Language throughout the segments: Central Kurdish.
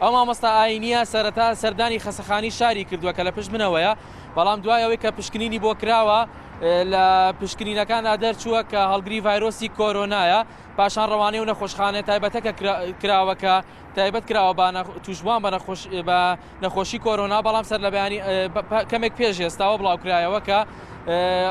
ئەو مامۆستا ئایینییە سەرەتا سەردانی خەسەخانی شاری کردووە کە لە پشت منەوەیە، بەڵام دوای ئەوەی کە پشکنینی بۆ کراوە لە پشکنینەکاندا دەرچووە کە هەڵگری ڤایرۆسی کۆرۆنایە، پاشان ڕەوانەی و نەخۆشخانە تایبەتەکە کراوە کە تایبەت کراوە بە تووشبووان بە نەخۆشی کۆرۆنا، بەڵام سەرلەبەیانی کەمێک پێش ئێستاوە بڵاوکرایەوە کە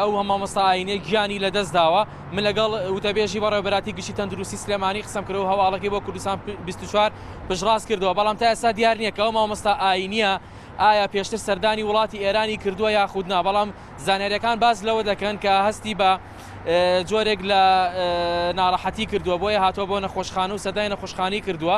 ئەو هە مامۆستا ئاینێ گیانی لە دەست داوە من لەگەڵ وتەبێژی بەڕێبەراتی گشتی تەندروستی سلێمانی قسم کرد و هەواڵەکەی بۆ کوردستان 24 پشڕاست کردەوە بەڵام تا ئێستا دیار نییە کە ئەو مامۆستا ئاینیە ئایا پێشتر سەردانی وڵاتی ئێرانی کردووە یاخودنا بەڵام زانارەکان باز لەوە دەکەن کە هەستی بە جۆرێک لە ناڕەحەتی کردووە بۆیە هاتووە بۆ نەخۆشخانە و سەردای نەخۆشخانی کردووە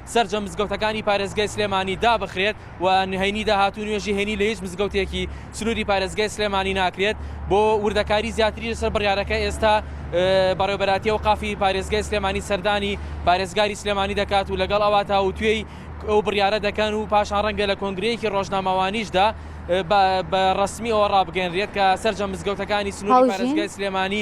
سەرجەم مزگەوتەکانی پارێزگای سلێمانی دابخرێت و هەینی داهاتوو نوێژی هەینی لە هیچ مزگەوتێکی سنووری پارێزگای سلێمانی ناکرێت بۆ وردەکاری زیاتری لەسەر بڕیارەکە ئێستا بەڕێوبەراتیە و قافی پارێزگای سلێمانی سەردانی پارێزگاری سلێمانی دەکات و لەگەڵ ئەوە تاوتوێی ئەو بڕیارە دەکەن و پاشان ڕەنگە لە کۆنگرەیەکی ڕۆژنامەوانیشدا بە ڕسمی ئەوە ڕابگەنرێت کە سەررجە مزگەوتەکانی سنووری پارێزگای سلێمانی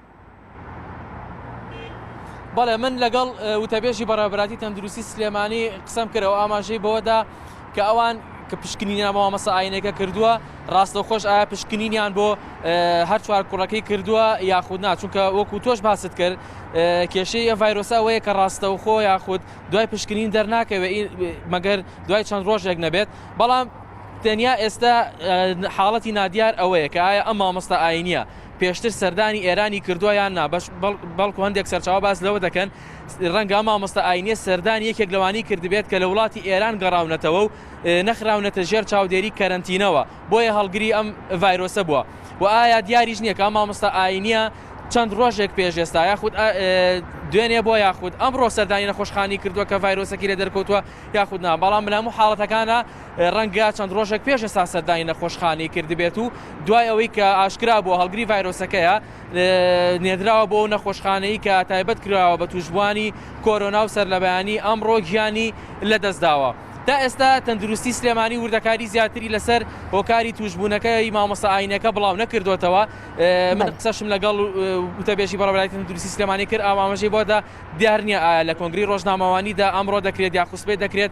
بەڵێ من لەگەڵ وتەبێژی بەڕێبراتی تەندروستی سلێمانی قسەم کرەوە ئاماژەی بەوەدا کە ئەوان کە پشکنینیان بۆ مەسە ئاینەکە کردووە ڕاستە خۆش ئایا پشکنینیان بۆ هەر چوار کوڕەکەی کردووە یاخود نا چونکە وەکو تۆش باست کرد کێشەی ئە ڤایرۆسا وەیە کە ڕاستە و خۆ یاخود دوای پشکنین دەرناکەوێت مەگەر دوای چەند ڕۆژێک نەبێت بەڵام تەنیا ئێستا حاڵەتی نادیار ئەوەیە کە ئایا ئەم مامۆستا ئاینە پێشتر سەردانی ئێرانی کردووە یان نا، بەڵکو هەندێک سەرچاوە باس لەوە دەکەن رەنگە ئەم مامۆستا ئاینیە سەردانی یەکێک لەوانەی کردبێت کە لە وڵاتی ئێران گەڕاونەتەوە و نەخراونەتە ژێر چاودێری کەرەنتینەوە بۆیە هەڵگری ئەم ڤایرۆسە بووە و ئایا دیاریش نییە کە ئەم مامۆستا ئاینیە چەند ڕۆژێک پێش ئێستا یاخود دوێنێ بۆ یاخود ئەمڕۆ سەردانی نەخۆشخانی کردووە کە ڤایرۆسەکی لە دەرکەوتووە یاخود نا بەڵام لە هەموو حاڵەتەکانە ڕەنگە چەند ڕۆژێک پێش ئێستا سەردانی نەخۆشخانەی کردبێت و دوای ئەوەی کە ئاشکرا بووە هەڵگری ڤایرۆسەکەیە نێدراوە بۆ نەخۆشخانەی کە تایبەت کراوە بە توشبوانی کۆرۆنا و سەرلەبەیانی ئەمڕۆ گیانی لەدەستداوە. تا ئێستا تەندروستی سلێمانی وردەکاری زیاتری لەسەر هۆکاری توشبوونەکەی مامۆستا ئاینەکە بڵاو نەکردوتەوە من قسەشم لەگەڵ وتەبێژی بەڕێبەرای تەندروستی سلێمانی کرد ئامامەژەی بۆدا دیار نییە ئایا لە کۆنگری ڕۆژنامەوانیدا ئەمڕۆ دەکرێت یا خوسبەی دەکرێت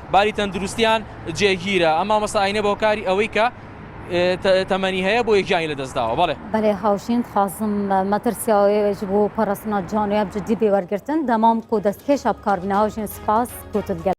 باری تەندروستیان جێگیرە ئەم مامۆستا ئاینە بەهۆکاری ئەوەی کە تەمەنی هەیە بۆیە گیانی لەدەستداوە بەڵێ. بەێ هاوژین خازم مەترسیاوێژ بوو پەڕەسنە جانوێب جدی بێ وەرگرتن دەمام کۆ دەست کێشە بکار بنە هاوژین سپاس کۆتل گەل.